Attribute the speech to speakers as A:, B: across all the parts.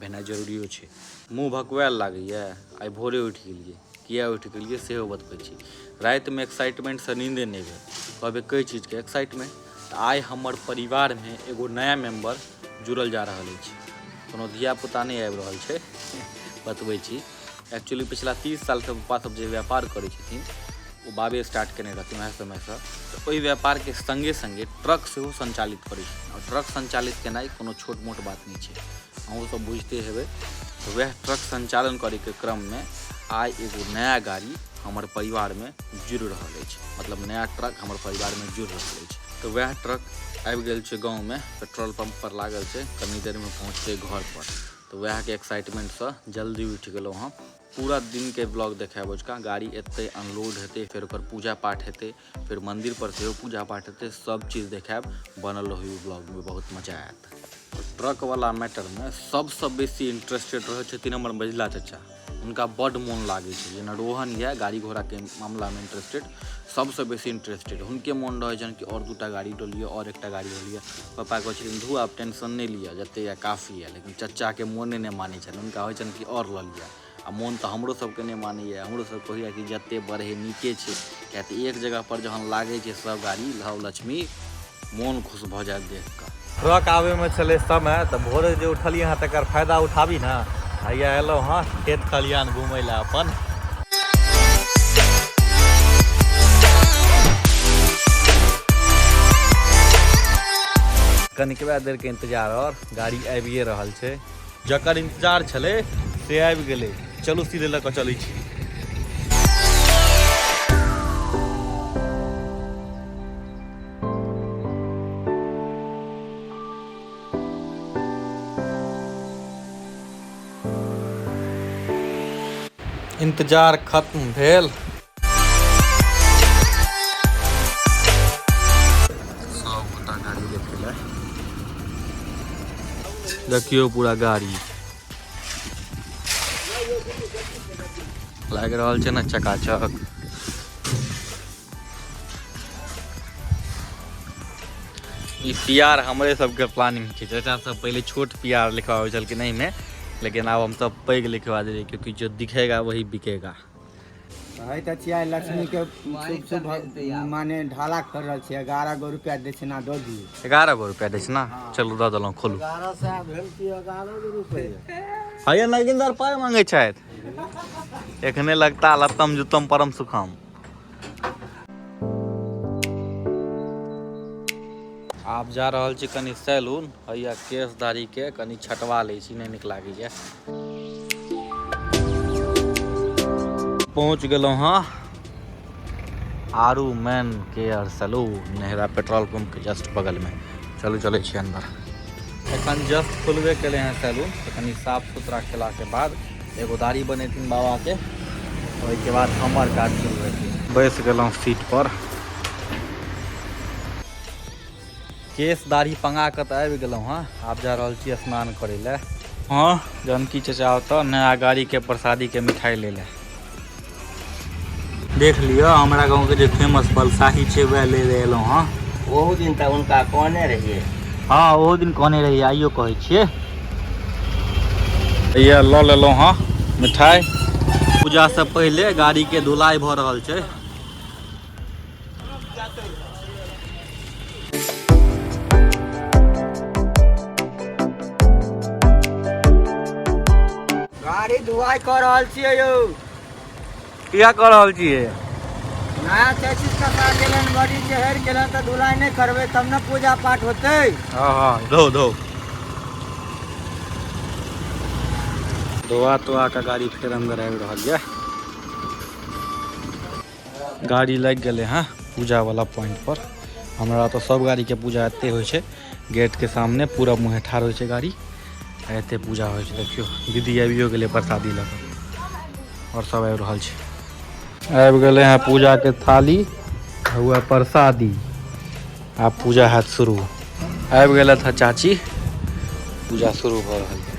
A: भेनाइ जरूरियो छै मुँह भकुआएल लागैए आइ भोरे उठि गेलिए किए उठि गेलिए सेहो बतबै छी रातिमे एक्साइटमेंटसँ नींदे नहि भेल कहबै कै चीजके एक्साइटमेंट तऽ आइ हमर परिवारमे एगो नया मेम्बर जुड़ल जा रहल अछि कोनो धियापुता नहि आबि रहल छै बतबै छी एक्चुअली पिछला तीस सालसँ पप्पा सब जे व्यापार करै छथिन ओ बाबे स्टार्ट केने रहथिन वएह समयसँ तऽ ओहि व्यापारके सङ्गे सङ्गे ट्रक सेहो सञ्चालित करै छथिन आओर ट्रक सञ्चालित केनाइ कोनो छोट मोट बात नहि छै अहूँसभ बुझिते हेबै तऽ वएह ट्रक सञ्चालन करैके क्रममे आइ एगो नया गाड़ी हमर परिवारमे जुड़ि रहल अछि मतलब नया ट्रक हमर परिवारमे जुड़ि रहल अछि तऽ वएह ट्रक आबि गेल छै गाँवमे पेट्रोल पम्पपर लागल छै कनी देरमे पहुँचतै घरपर तऽ वएहके एक्साइटमेंटसँ जल्दी उठि गेलहुँ हँ पूरा दिनके ब्लॉग देखायब ओजका गाड़ी एतै अनलोड हेतै फेर ओकर पूजा पाठ हेतै फेर मन्दिरपर सेहो पूजा पाठ हेतै सब चीज देखायब बनल रहू ब्लॉगमे बहुत मजा आयत ट्रकवला मैटरमे सबसँ बेसी इंटरेस्टेड रहै छथिन हमर मझिला चचा हुनका बड मोन लागे छै जेना रोहन यऽ गाड़ी घोड़ा के मामला में इंटरेस्टेड सबसे बेसी इंटरेस्टेड हुनके मोन रहे छनि कि और दूटा गाड़ी लो लिअ और एकटा गाड़ी लो लिअ पापा कहे छथिन धू आप टेंशन नहीं लिअ जते या काफी है लेकिन चचा के मोने नहीं माने छनि हुनका होइ छनि कि और ल लिअ आ मोन तऽ हमरो सबके नहि मानैए हमरो सब कहैए कि जते बढ़े नीके छै किएक तऽ एक जगहपर जहन लागै छै सब गाड़ी लव लक्ष्मी मोन खुश भऽ जायत देख कऽ ट्रक आबैमे छलै समय तऽ भोरे जे उठलियै हँ तकर फायदा उठाबी ने हैया एलहुँ हँ खेत खलिहान घुमै लए अपन कनिकबा देरके इन्तजार आओर गाड़ी आबिए रहल छै जकर इंतजार छले से आबि गेले चलू सीधे लऽ कऽ चलै छी इंतजार खत्म भेल देखियो पूरा गाड़ी लग रहा है ना चकाचक ई प्यार हमरे सबके प्लानिंग छै चाचा सब पहले छोट प्यार लिखवाबै छलखिन एहिमे लेकिन आब हम सब पैघ लिखवा देलियै क्योंकि जो दिखेगा वही बिकेगा कहै तऽ छियै लक्ष्मीके शुभ शुभ माने ढाला कर रहल छियै एगारह गो रुपया दक्षिणा दऽ दियौ एगारह गो रुपया दै छै ने चलू दऽ देलहुँ खोलू एगारह सए भेल कि एगारह गो रुपये हैया नगिंदर पाय मांगे छथि एखने लगता लत्तम जुत्तम परम सुखम आब जा रहल छी कनि सैलून हैया केश दाढ़ी के कनि छटवा लै छी नहि नीक लागैए पहुँच गेलहुँ हँ आरू man care salon Nehra petrol pump के जस्ट बगल में चलू चले छी अंदर एखन जस्ट खुलबे कले हैं सैलून कनि साफ सुथरा केला के बाद एगो दाढ़ी बनेथिन बाबा के ओहिके बाद हमर काज शुरू हेतै बैस गेलहुँ सीट पर केश दाढ़ी पंगा कऽ तऽ आबि गेलहुँ हँ आब जा रहल छी स्नान करै लए हँ जानकी चचा ओतऽ नया गाड़ीके प्रसादीके मिठाइ लै लए देख लिअ हमरा गाँवके जे फेमस बलसाही छै वएह ले ले एलहुँ हँ ओहो दिन तऽ हुनका कहने रहियै हँ ओहो दिन कहने रहियै आइयो कहै छियै इएह लऽ लेलहुँ हँ मिठाइ पूजासँ पहिले गाड़ीके धुलाइ भऽ रहल छै गाड़ी धुआई कर रहल छियै यौ किया कऽ रहल छियै नया चैसिस का साथ गेलन बड़ी चहर गेलन तऽ धुलाई नहि करबै तब ने पूजा पाठ होतै हाँ हाँ धो धो धोआ तोआ के गाड़ी फेर अंदर आबि रहल यऽ गाड़ी लागि गेलै हँ पूजावला पॉइंटपर हमरा तऽ सब गाड़ीके पूजा एते होइ छै गेटके सामने पूरा मुँहे ठाढ़ होइ छै गाड़ी आ एते पूजा होइ छै देखियौ दीदी आबियो गेलै प्रसादी लऽ कऽ आओर सब आबि रहल छै आबि गेलै हँ पूजाके थाली हुआ प्रसादी आ पूजा हैत शुरू आबि गेलथि हँ चाची पूजा शुरू भऽ रहल छै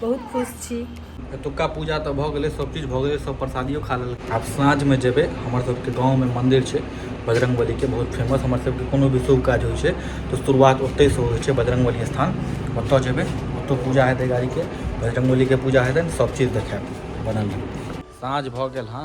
A: बहुत खुश छी एतुका पूजा तऽ भऽ गेलै सब चीज भऽ गेलै सब प्रसादियो खा लेलकै आब साँझमे जेबै हमर सबके गाँवमे मन्दिर छै बजरंग बलीके बहुत फेमस हमर सबके कोनो भी शुभ काज होइ छै तऽ शुरुआत ओतहिसँ होइ छै बजरंग बली स्थान ओतऽ जेबै ओतऽ पूजा हेतै गाड़ीके बजरंग बलीके पूजा हेतै सब चीज देखायब बनल रहू साँझ भऽ गेल हँ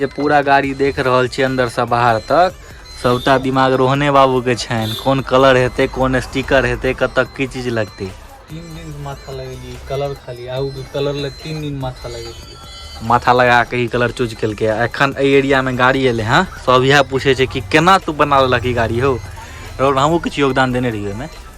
A: जे पूरा गाड़ी देख रहल छी अंदर से बाहर तक सबटा दिमाग रोहने बाबू के छनि कोन कलर हेतै कोन स्टिकर हेतै कतऽ की चीज लगतै तीन दिन माथा लगेलिए कलर खाली आउ कलर ले तीन दिन माथा लगेलिए माथा लगा के ई कलर चूज केलकै एखन एहि एरिया में गाड़ी एलै हँ सब इएह पूछे छै कि केना तू बना लेलक ई गाड़ी हो रोड हमहूँ किछु योगदान देने रहिए ओहिमे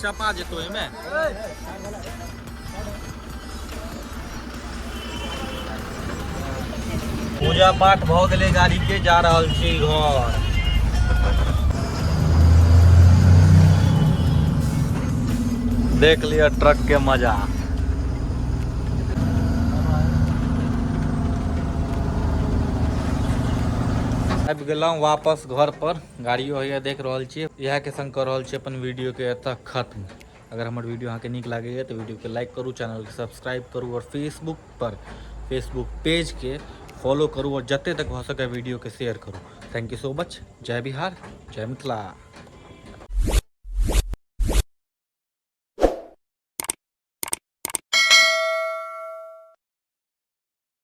A: चपा जेतो एमे पूजा पाठ भऽ गेलै गाड़ी के जा रहल छी घर देख लिअ ट्रक के मजा आबि गेलहुँ वापस घर पर गाड़ियो होइया देख रहल छियै इएह के संग कऽ रहल छियै अपन वीडियो के एतऽ खत्म अगर हमर वीडियो अहाँके नीक लागैए तऽ वीडियोके लाइक करू चैनलके सब्सक्राइब करू आओर फेसबुकपर फेसबुक पेजके फॉलो करू आओर जतेक तक भऽ सकै वीडियोके शेयर करू थैंक यू सो मच जय बिहार जय मिथिला